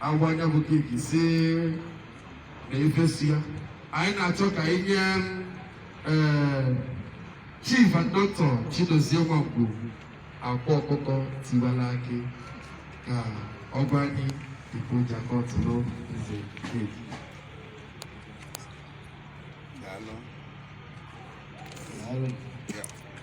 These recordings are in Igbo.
agwa anya bụ keeki si na efesi ya anyị na-achọ ka anyị nye eh, chief and doctor Chidozie Nwangwu akwa ọkụkọ tiwala akị ka ọ gwa anyị ibu jakọt n'oge keeki Daalụ. Daalụ.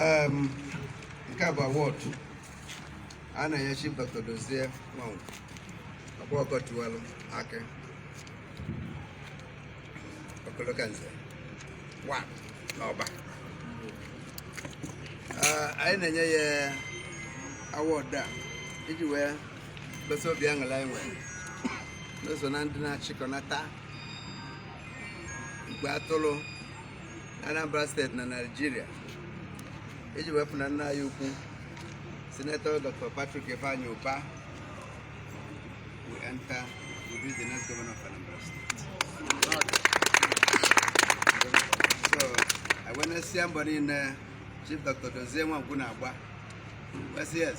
Um, nke a bụ awọdụ a na-enye Chief Dr. Dozie Nwangwu Akwa Ọkụkọ tiwalụ akị ọkoloka nze one n'Ọba anyị na-enye ya awọdụ a iji wee gosi obi aṅụrị anyị nwere n'ụzọ na ndị na-achịkọnata igwe atụrụ na Anambra steeti na Naịjirịa iji wee fụ na nna anyị ukwu Senator Dr. Patrick Ifeanyi Uba will enter to be the next governor of Anambra State. So, anyị wee nesịa mbọ niine Chief Dr. Dozie Nwangwu na-agba. Yes, yes.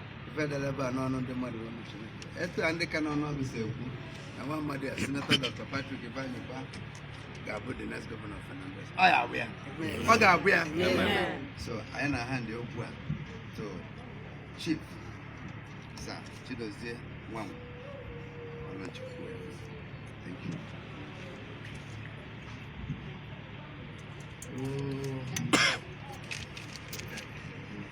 federe ebe a n'ọnụ ndị mmadụ ọnụ Chineke etu a ndị ka n'ọnụ ọgụ si ekwu na nwa amadị a sinetọ Dr. Patrick Ifeanyi Uba ga-abụ the next governor of Anambra ọ ya-abụ ya ọ ga-abụ ya so anyị na-ahandị over to chief sa Chidozie Nwangwu Ọlọchukwu thank you Oh.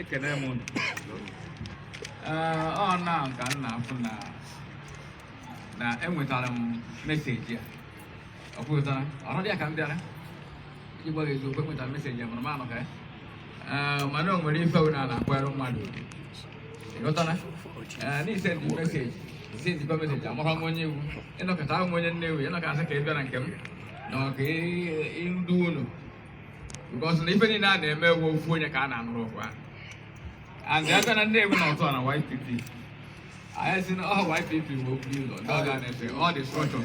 ekene m unu ọ na ka m na-afụ na na enwetara m meseji a ọ pụtara ọnọdụ ya ka m bịara iji gwa gị eziokwu enwetara meseji ya mana m anọka ya mana o nwere ife na na-akwara mmadụ ị ghọtara na e sendị meseji e sendị meseji amara m onye ị wụ ị na-aghọta awụ m onye Nnewi ị na-aghọta ka ị bịara nke m na ọka ndị unu because na ife niile a na-eme ọ wụ ofu onye ka a na-anụrụ ọgụ ahụ and ebe na Nnewi na ọtụ na YPP anyị si na ọ YPP bụ okwu ụlọ ndị ọga na-efe all the structure